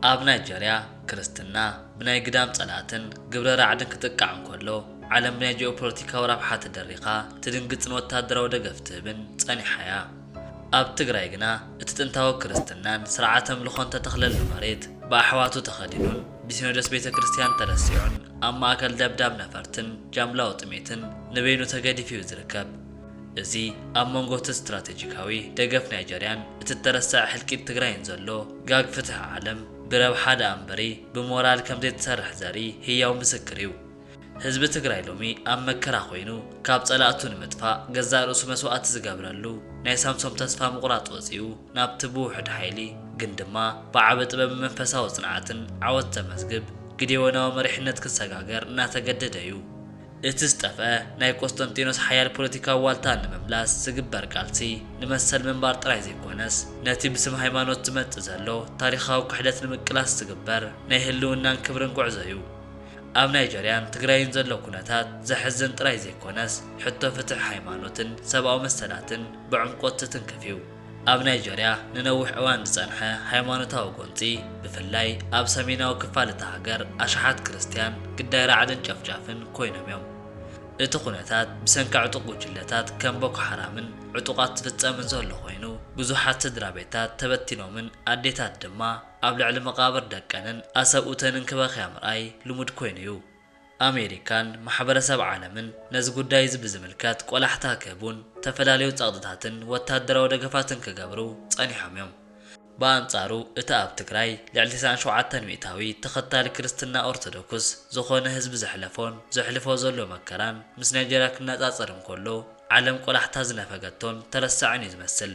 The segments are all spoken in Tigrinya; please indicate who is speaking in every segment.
Speaker 1: ኣብ ናይጀርያ ክርስትና ብናይ ግዳም ጸላእትን ግብረ ራዕድን ክጥቃዕ እንከሎ፣ ዓለም ብናይ ጂኦፖለቲካዊ ረብሓ ተደሪኻ ትድንግጽን ወተሃደራዊ ደገፍ ትህብን ጸኒሓ'ያ። ኣብ ትግራይ ግና እቲ ጥንታዊ ክርስትናን ስርዓተ ኣምልኾን ተተኽለሉ መሬት ብኣሕዋቱ ተኸዲኑን ብሲኖዶስ ቤተ ክርስቲያን ተረሲዑን ኣብ ማእከል ደብዳብ ነፈርትን ጃምላዊ ጥሜትን ንበይኑ ተገዲፉ'ዩ ዝርከብ። እዚ ኣብ መንጎ እቲ ስትራተጂካዊ ደገፍ ናይጀርያን እቲ እተረሰዐ ሕልቂት ትግራይን ዘሎ ጋግ ፍትሒ ዓለም ብረብሓ ደኣ እምበሪ ብሞራል ከም ዘይትሰርሕ ዘርኢ ህያው ምስክር እዩ። ህዝቢ ትግራይ ሎሚ ኣብ መከራ ኮይኑ ካብ ጸላእቱ ንምጥፋእ ገዛእ ርእሱ መስዋእቲ ዝገብረሉ ናይ ሳምሶም ተስፋ ምቑራጽ ወጺኡ ናብቲ ብውሑድ ሓይሊ ግን ድማ ብዓቢ ጥበብን መንፈሳዊ ጽንዓትን ዓወት ዘመዝግብ ግዴዎናዊ መሪሕነት ክሰጋገር እናተገደደ እዩ። እቲ ዝጠፍኣ ናይ ቆስጠንጢኖስ ሓያል ፖለቲካዊ ዋልታ ንምምላስ ዝግበር ቃልሲ ንመሰል ምንባር ጥራይ ዘይኮነስ፣ ነቲ ብስም ሃይማኖት ዝመጽእ ዘሎ ታሪኻዊ ክሕደት ንምቅላስ ዝግበር ናይ ህልውናን ክብርን ጉዕዞ'ዩ። ኣብ ናይጀርያን ትግራይን ዘሎ ኩነታት ዘሕዝን ጥራይ ዘይኮነስ፣ ሕቶ ፍትሕ ሃይማኖትን ሰብኣዊ መሰላትን ብዕምቆት ዝትንክፍ'ዩ። ኣብ ናይጀርያ ንነዊሕ እዋን ዝጸንሐ ሃይማኖታዊ ጎንጺ፣ ብፍላይ ኣብ ሰሜናዊ ክፋል እታ ሃገር ኣሽሓት ክርስትያን ግዳይ ራዕድን ጨፍጫፍን ኰይኖም እዮም። እቲ ኵነታት ብሰንኪ ዕጡቕ ጕጅለታት ከም ቦኮ ሓራምን ዕጡቓት ዝፍጸምን ዘሎ ኰይኑ፣ ብዙሓት ስድራቤታት ተበቲኖምን ኣዴታት ድማ ኣብ ልዕሊ መቓብር ደቀንን ኣሰብኡተንን ክበኽያ ምርኣይ ልሙድ ኰይኑ እዩ። ኣሜሪካን ማሕበረሰብ ዓለምን ነዚ ጉዳይ እዚ ብዝምልከት ቆላሕታ ክህቡን ዝተፈላለዩ ጸቕጥታትን ወታደራዊ ደገፋትን ክገብሩ ጸኒሖም እዮም። ብኣንጻሩ እቲ ኣብ ትግራይ ልዕሊ ተስዓን ሸውዓተን ሚእታዊ ተኸታሊ ክርስትና ኦርቶዶክስ ዝኾነ ህዝቢ ዘሕለፎን ዘሕልፎ ዘሎ መከራን ምስ ናይጀርያ ክነጻጸር እንከሎ ዓለም ቆላሕታ ዝነፈገቶን ተረሳዕን እዩ ዝመስል።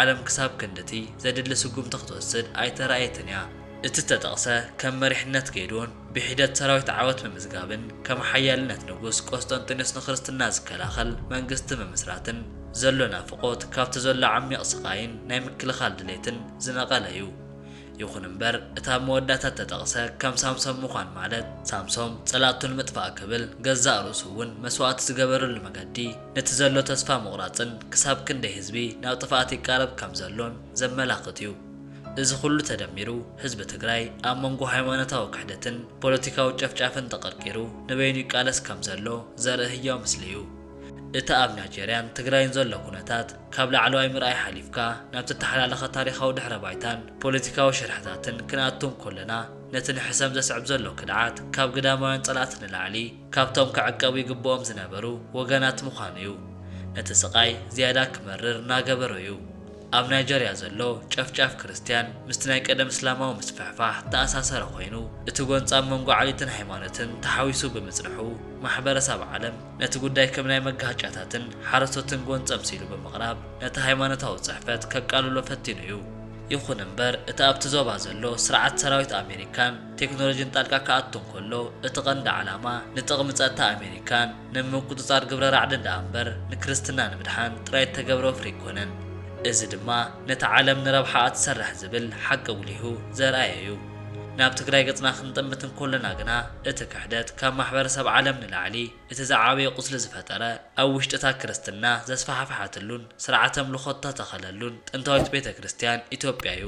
Speaker 1: ዓለም ክሳብ ክንድቲ ዘድሊ ስጉምቲ ክትወስድ ኣይተራእየትን እያ። እቲ እተጠቕሰ ከም መሪሕነት ጌድዎን ብሒደት ሰራዊት ዓወት ምምዝጋብን ከም ሓያልነት ንጉስ ቆስጠንጢኖስ ንክርስትና ዝከላኸል መንግስቲ ምምስራትን ዘሎ ናፍቖት ካብቲ ዘሎ ዓሚቕ ስቓይን ናይ ምክልኻል ድሌትን ዝነቐለ እዩ። ይኹን እምበር እቲ ኣብ መወዳእታ እተጠቕሰ ከም ሳምሶም ምዃን ማለት ሳምሶም ጸላእቱ ንምጥፋእ ክብል ገዛእ ርእሱ እውን መስዋእቲ ዝገበረሉ መገዲ ነቲ ዘሎ ተስፋ ምቑራጽን ክሳብ ክንደይ ህዝቢ ናብ ጥፍኣት ይቃረብ ከም ዘሎን ዘመላኽት እዩ። እዚ ኩሉ ተደሚሩ ህዝቢ ትግራይ ኣብ መንጎ ሃይማኖታዊ ክሕደትን ፖለቲካዊ ጨፍጫፍን ተቐርቂሩ ንበይኑ ይቃለስ ከም ዘሎ ዘርኢ ህያው ምስሊ እዩ። እቲ ኣብ ናይጀርያን ትግራይን ዘሎ ኩነታት፣ ካብ ላዕለዋይ ምርኣይ ሓሊፍካ ናብ ተተሓላለኸ ታሪኻዊ ድሕረ ባይታን ፖለቲካዊ ሽርሕታትን ክንኣቱ እንኮለና፣ ነቲ ንሕሰም ዘስዕብ ዘሎ ክድዓት ካብ ግዳማውያን ጸላእቲ ንላዕሊ ካብቶም ክዕቀቡ ይግብኦም ዝነበሩ ወገናት ምዃኑ እዩ ነቲ ስቓይ ዝያዳ ክመርር እናገበሮ እዩ። ኣብ ናይጀርያ ዘሎ ጨፍጫፍ ክርስትያን ምስቲ ናይ ቀደም እስላማዊ ምስፍሕፋሕ እተኣሳሰረ ኮይኑ፣ እቲ ጎንጻም መንጎ ዓሌትን ሃይማኖትን ተሓዊሱ ብምጽንሑ ማሕበረሳብ ዓለም፣ ነቲ ጉዳይ ከም ናይ መጋህጫታትን ሓረስቶትን ጎንጸም ሲሉ ብምቕራብ ነቲ ሃይማኖታዊ ጽሕፈት ከቃልሎ ፈቲኑ እዩ። ይኹን እምበር እቲ ኣብቲ ዞባ ዘሎ ስርዓት ሰራዊት ኣሜሪካን ቴክኖሎጂን ጣልቃ ክኣቱ እንከሎ እቲ ቀንዲ ዓላማ ንጥቕሚ ጸጥታ ኣሜሪካን ንምቁጽጻር ግብረ ራዕድን ደኣ እምበር ንክርስትና ንምድሓን ጥራይ እተገብረ ወፍሪ ኣይኮነን። እዚ ድማ ነቲ ዓለም ንረብሓኣ ትሰርሕ ዝብል ሓቂ ኣጉሊሁ ዘርኣየ እዩ። ናብ ትግራይ ገጽና ክንጥምት እንኮለና ግና እቲ ክሕደት ካብ ማሕበረሰብ ዓለም ንላዕሊ እቲ ዝዓበየ ቁስሊ ዝፈጠረ ኣብ ውሽጢታ ክርስትና ዘስፋሕፈሐትሉን ስርዓተ ኣምልኾ እተተኸለሉን ጥንታዊት ቤተ ክርስቲያን ኢትዮጵያ እዩ።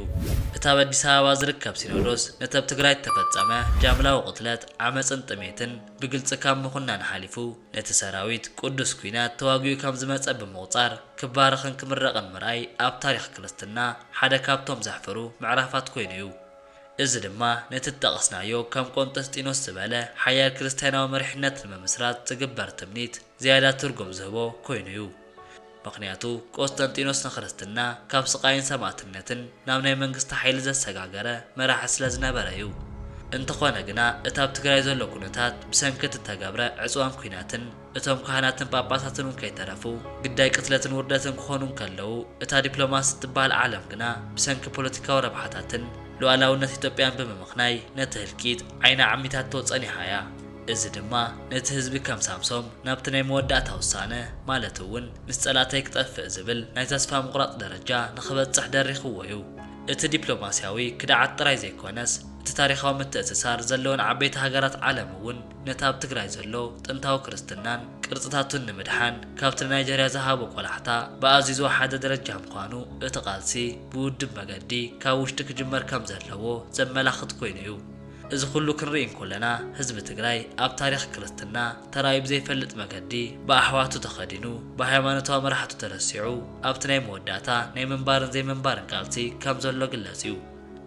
Speaker 1: እቲ ኣብ ኣዲስ ኣበባ ዝርከብ ሲኖዶስ ነቲ ኣብ ትግራይ እተፈጸመ ጃምላዊ ቅትለት፣ ዓመጽን ጥሜትን ብግልጺ ካብ ምኹናን ሓሊፉ፣ ነቲ ሰራዊት ቅዱስ ኲናት ተዋጊኡ ከም ዝመጸ ብምቑጻር ክባረኽን ክምረቕን ምርኣይ ኣብ ታሪኽ ክርስትና ሓደ ካብቶም ዘሕፍሩ ምዕራፋት ኮይኑ እዩ። እዚ ድማ ነቲ ዝጠቐስናዮ ከም ቆንጠስጢኖስ ዝበለ ሓያል ክርስትያናዊ መሪሕነት ንምምስራት ዝግበር ትምኒት ዝያዳ ትርጉም ዝህቦ ኮይኑ እዩ። ምኽንያቱ ቆስጠንጢኖስ ንክርስትና ካብ ስቓይን ሰማእትነትን ናብ ናይ መንግስቲ ሓይሊ ዘሰጋገረ መራሒ ስለ ዝነበረ ዩ። እንተኾነ ግና እቲ ኣብ ትግራይ ዘሎ ኩነታት ብሰንኪ እቲ እተገብረ ዕፅዋን ኲናትን እቶም ካህናትን ጳጳሳትን ውን ከይተረፉ ግዳይ ቅትለትን ውርደትን ክኾኑ እንከለዉ እታ ዲፕሎማሲ እትበሃል ዓለም ግና ብሰንኪ ፖለቲካዊ ረብሓታትን ሉኣላውነት ኢትዮጵያን ብምምኽናይ ነቲ ህልቂት ዓይና ኣዕሚታቶ ፀኒሓ ያ። እዚ ድማ ነቲ ህዝቢ ከም ሳምሶም ናብቲ ናይ መወዳእታ ውሳነ ማለት እውን ምስ ጸላእተይ ክጠፍእ ዝብል ናይ ተስፋ ምቑራጽ ደረጃ ንኽበጽሕ ደሪኽዎ እዩ። እቲ ዲፕሎማስያዊ ክድዓት ጥራይ ዘይኮነስ እቲ ታሪኻዊ ምትእስሳር ዘለወን ዓበይቲ ሃገራት ዓለም እውን ነቲ ኣብ ትግራይ ዘሎ ጥንታዊ ክርስትናን ቅርጽታቱን ንምድሓን ካብቲ ንናይጀርያ ዝሃቦ ቆላሕታ ብኣዝዩ ዝወሓደ ደረጃ ምዃኑ እቲ ቃልሲ ብውድብ መገዲ ካብ ውሽጢ ክጅመር ከም ዘለዎ ዘመላኽት ኮይኑ እዩ። እዚ ኩሉ ክንርኢ እንኮለና ህዝቢ ትግራይ ኣብ ታሪኽ ክርስትና ተራእዩ ብዘይፈልጥ መገዲ ብኣሕዋቱ ተኸዲኑ ብሃይማኖታዊ መራሕቱ ተረሲዑ ኣብቲ ናይ መወዳእታ ናይ ምንባርን ዘይምንባርን ቃልሲ ከም ዘሎ ግለፅ እዩ።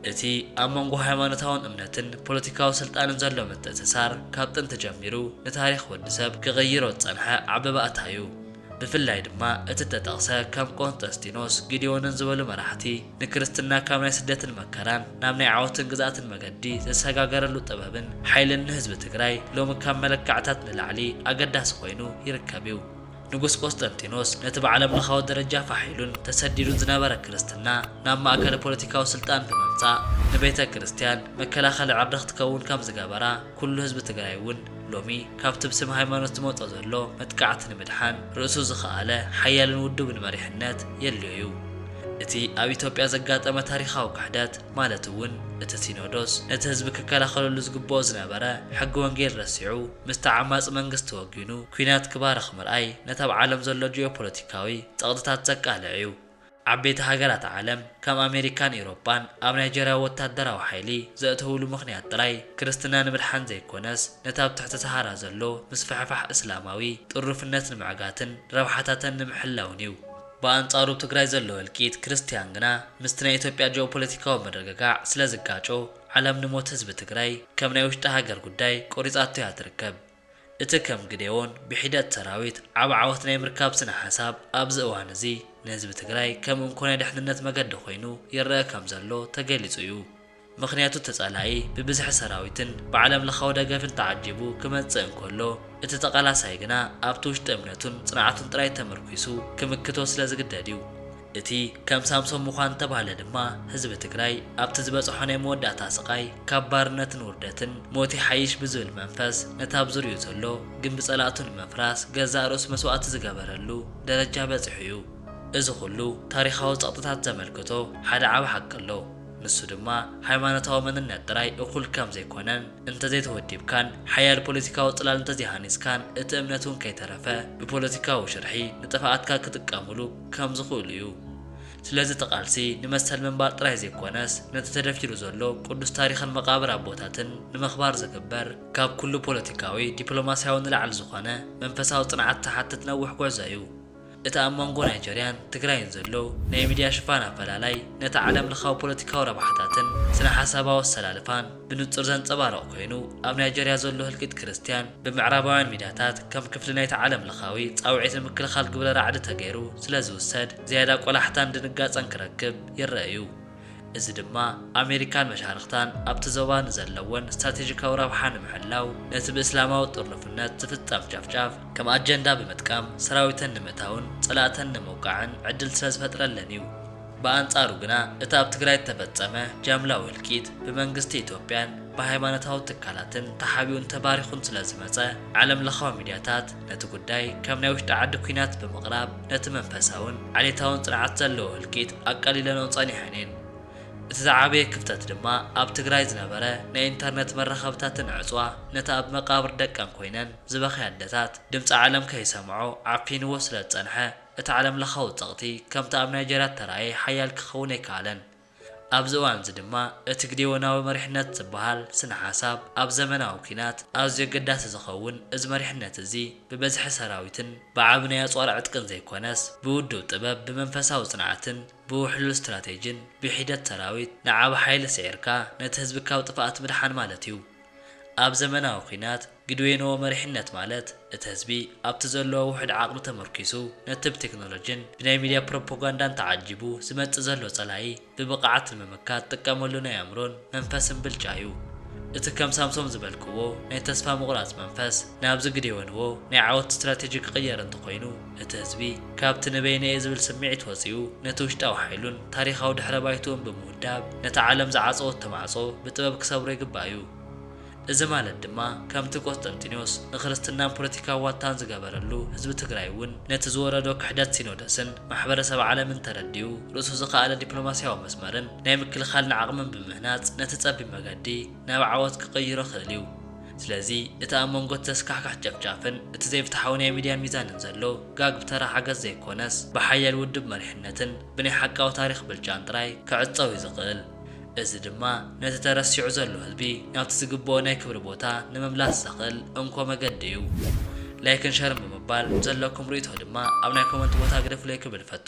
Speaker 1: እቲ ኣብ መንጎ ሃይማኖታውን እምነትን ፖለቲካዊ ስልጣንን ዘሎ ምትእስሳር ካብ ጥንቲ ጀሚሩ ንታሪኽ ወዲ ሰብ ክቕይሮ ዝፀንሐ ዓቢ ባእታ እዩ። ብፍላይ ድማ እቲ እተጠቕሰ ከም ቆንጠስጢኖስ፣ ጊዴዎንን ዝበሉ መራሕቲ፣ ንክርስትና ካብ ናይ ስደትን መከራን ናብ ናይ ዓወትን ግዝኣትን መገዲ ዘሰጋገረሉ ጥበብን ሓይልን ንህዝቢ ትግራይ ሎሚ ካብ መለካዕታት ንላዕሊ ኣገዳሲ ኮይኑ ይርከብ እዩ። ንጉስ ቆስጠንጢኖስ ነቲ ብዓለምለኻዊ ደረጃ ፋሕ ኢሉን ተሰዲዱን ዝነበረ ክርስትና ናብ ማእከለ ፖለቲካዊ ስልጣን ብምምጻእ ንቤተ ክርስቲያን መከላኸሊ ዕርዲ ክትከውን ከም ዝገበራ ኩሉ ህዝቢ ትግራይ እውን ሎሚ ካብቲ ብስም ሃይማኖት ዝመጾ ዘሎ መጥቃዕቲ ንምድሓን ርእሱ ዝኸኣለ ሓያልን ውዱብን መሪሕነት የድልዮ እዩ። እቲ ኣብ ኢትዮጵያ ዘጋጠመ ታሪኻዊ ክሕደት ማለት እውን እቲ ሲኖዶስ ነቲ ህዝቢ ክከላኸለሉ ዝግበኦ ዝነበረ ሕጊ ወንጌል ረሲዑ ምስቲ ዓማጺ መንግስቲ ወጊኑ ኲናት ክባርኽ ምርኣይ ነቲ ኣብ ዓለም ዘሎ ጂኦፖለቲካዊ ጸቕጥታት ዘቃልዕ እዩ። ዓበይቲ ሃገራት ዓለም ከም ኣሜሪካን ኢሮጳን ኣብ ናይጀርያ ወታደራዊ ሓይሊ ዘእተውሉ ምኽንያት ጥራይ ክርስትና ንምድሓን ዘይኮነስ ነቲ ኣብ ትሕቲ ሰሃራ ዘሎ ምስፍሕፋሕ እስላማዊ ጥሩፍነት ንምዕጋትን ረብሓታተን ንምሕላውን እዩ። ብኣንጻሩ ኣብ ትግራይ ዘሎ እልቂት ክርስትያን ግና ምስቲ ናይ ኢትዮጵያ ጂኦፖለቲካዊ ምርግጋዕ ስለዝጋጮ ዓለም ንሞት ህዝቢ ትግራይ ከም ናይ ውሽጢ ሃገር ጉዳይ ቆሪጻቶ እያ ትርከብ። እቲ ከም ግዴዎን ብሒደት ሰራዊት ዓቢ ዓወት ናይ ምርካብ ስነ ሓሳብ ኣብዚ እዋን እዚ ንህዝቢ ትግራይ ከም እንኮ ናይ ደሕንነት መገዲ ኮይኑ ይረኣ ከም ዘሎ ተገሊጹ እዩ። ምኽንያቱ ተጻላኢ ብብዝሒ ሰራዊትን ብዓለም ለኻዊ ደገፍን ተዓጂቡ ክመጽእ እንከሎ እቲ ተቓላሳይ ግና ኣብቲ ውሽጢ እምነቱን ጽንዓቱን ጥራይ ተመርኲሱ ክምክቶ ስለ ዝግደድ እዩ። እቲ ከም ሳምሶም ምዃን ዝተባህለ ድማ ህዝቢ ትግራይ ኣብቲ ዝበፀሖ ናይ መወዳእታ ስቓይ ካብ ባርነትን ውርደትን ሞት ይሓይሽ ብዝብል መንፈስ ነቲ ኣብ ዙርይኡ ዘሎ ግምቢ ፀላእቱ ንምፍራስ ገዛእ ርእሱ መስዋእቲ ዝገበረሉ ደረጃ በፂሑ እዩ። እዚ ኹሉ ታሪኻዊ ፀቕጥታት ዘመልክቶ ሓደ ዓቢ ሓቂ ኣሎ። ንሱ ድማ ሃይማኖታዊ መንነት ጥራይ እኹል ከም ዘይኮነን እንተዘይተወዲብካን ሓያል ፖለቲካዊ ፅላል እንተዘይሃኒፅካን እቲ እምነት እውን ከይተረፈ ብፖለቲካዊ ሽርሒ ንጥፍኣትካ ክጥቀሙሉ ከም ዝኽእሉ እዩ። ስለዚ እቲ ቃልሲ ንመሰል ምንባር ጥራይ ዘይኮነስ ነቲ ተደፊኑ ዘሎ ቅዱስ ታሪኽን መቓብር ኣቦታትን ንምኽባር ዝግበር ካብ ኩሉ ፖለቲካዊ ዲፕሎማሲያዊ ንላዕሊ ዝኾነ መንፈሳዊ ጽንዓት ዝሓትት ነዊሕ ጉዕዞ እዩ። እቲ ኣብ መንጎ ናይጀርያን ትግራይን ዘሎ ናይ ሚድያ ሽፋን ኣፈላላይ ነቲ ዓለም ለኻዊ ፖለቲካዊ ረብሓታትን ስነ-ሓሳባዊ ኣሰላልፋን ብንጹር ዘንጸባርቕ ኰይኑ፣ ኣብ ናይጀርያ ዘሎ ህልቂት ክርስትያን ብምዕራባውያን ሚድያታት ከም ክፍሊ ናይቲ ዓለምለኻዊ ጻውዒት ንምክልኻል ግብረ ራዕዲ ተገይሩ ስለ ዝውሰድ ዝያዳ ቈላሕታን ድንጋጸን ክረክብ ይረኣ እዩ። እዚ ድማ ኣሜሪካን መሻርኽታን ኣብቲ ዞባ ንዘለወን ስትራቴጂካዊ ረብሓ ንምሕላው ነቲ ብእስላማዊ ጥርኑፍነት ዝፍጸም ጨፍጫፍ ከም ኣጀንዳ ብምጥቃም ሰራዊተን ንምእታውን ጸላእተን ንምውቃዕን ዕድል ስለ ዝፈጥረለን እዩ። ብኣንጻሩ ግና እቲ ኣብ ትግራይ እተፈጸመ ጃምላዊ ህልቂት ብመንግስቲ ኢትዮጵያን ብሃይማኖታዊ ትካላትን ተሓቢኡን ተባሪኹን ስለ ዝመጸ ዓለም ለኻዊ ሚድያታት ነቲ ጉዳይ ከም ናይ ውሽጢ ዓዲ ኲናት ብምቕራብ ነቲ መንፈሳውን ዓሌታውን ጽንዓት ዘለዎ ህልቂት ኣቃሊለንኦ ጸኒሐን እየን። እቲ ዝዓበየ ክፍተት ድማ ኣብ ትግራይ ዝነበረ ናይ ኢንተርነት መራኸብታትን ዕጽዋ ነቲ ኣብ መቃብር ደቀን ኮይነን ዝበኽያ ኣደታት ድምጺ ዓለም ከይሰምዖ ዓፊንዎ ስለ ዝጸንሐ እቲ ዓለምለኻዊ ጸቕጢ ከምቲ ኣብ ናይጀርያ እተራእየ ሓያል ክኸውን ኣይከኣለን። ኣብዚ እዋንዚ ድማ እቲ ግዴዎናዊ መሪሕነት ዝበሃል ስነ ሓሳብ ኣብ ዘመናዊ ኲናት ኣዝዩ ኣገዳሲ ዝኸውን እዚ መሪሕነት እዚ ብበዝሒ ሰራዊትን ብዓቢ ናይ ኣጽዋር ዕጥቅን ዘይኮነስ ብውዱብ ጥበብ ብመንፈሳዊ ጽንዓትን ብውሕሉል ስትራቴጂን ብሒደት ሰራዊት ንዓቢ ሓይሊ ስዒርካ ነቲ ህዝቢ ካብ ጥፍኣት ምድሓን ማለት እዩ። ኣብ ዘመናዊ ኲናት ግድዌኖ መሪሕነት ማለት እቲ ህዝቢ ኣብቲ ዘለዎ ውሑድ ዓቕሚ ተመርኲሱ ነቲ ብቴክኖሎጂን ብናይ ሚድያ ፕሮፖጋንዳን ተዓጂቡ ዝመጽእ ዘሎ ጸላኢ ብብቐዓት ንምምካት ዝጥቀመሉ ናይ ኣእምሮን መንፈስን ብልጫ እዩ። እቲ ከም ሳምሶም ዝበልክዎ ናይ ተስፋ ምቑራጽ መንፈስ ናብዚ ግዴወንዎ ናይ ዓወት ስትራቴጂ ክቕየር እንተኾይኑ እቲ ህዝቢ ካብቲ ንበይነይ'የ ዝብል ስምዒት ወጺኡ ነቲ ውሽጣዊ ሓይሉን ታሪኻዊ ድሕረ ባይትኡን ብምውዳብ ነታ ዓለም ዝዓጸወቶ ማዕጾ ብጥበብ ክሰብሮ ይግባእ'ዩ። እዚ ማለት ድማ ከምቲ ቆስጠንጢኖስ ንክርስትናን ፖለቲካዊ ዋልታን ዝገበረሉ ህዝቢ ትግራይ እውን ነቲ ዝወረዶ ክሕደት ሲኖደስን ማሕበረሰብ ዓለምን ተረዲኡ ርእሱ ዝኸኣለ ዲፕሎማሲያዊ መስመርን ናይ ምክልኻልን ዓቕምን ብምህናፅ ነቲ ፀቢብ መገዲ ናብ ዓወት ክቕይሮ ክእል እዩ። ስለዚ እቲ ኣብ መንጎ እቲ ዘስካሕክሕ ጨፍጫፍን እቲ ዘይፍትሓዊ ናይ ሚድያ ሚዛንን ዘሎ ጋግ ብተራ ሓገዝ ዘይኮነስ ብሓያል ውድብ መሪሕነትን ብናይ ሓቃዊ ታሪኽ ብልጫን ጥራይ ክዕፀው እዩ ዝኽእል። እዚ ድማ ነቲ ተረሲዑ ዘሎ ህዝቢ ናብቲ ዝግብኦ ናይ ክብሪ ቦታ ንምምላስ ዘኽእል እንኮ መገዲ እዩ። ላይክን ሸርን ብምባል ዘለኩም ርእይቶ ድማ ኣብ ናይ ኮመንት ቦታ ግደፉለይ ክብል እፈቱ።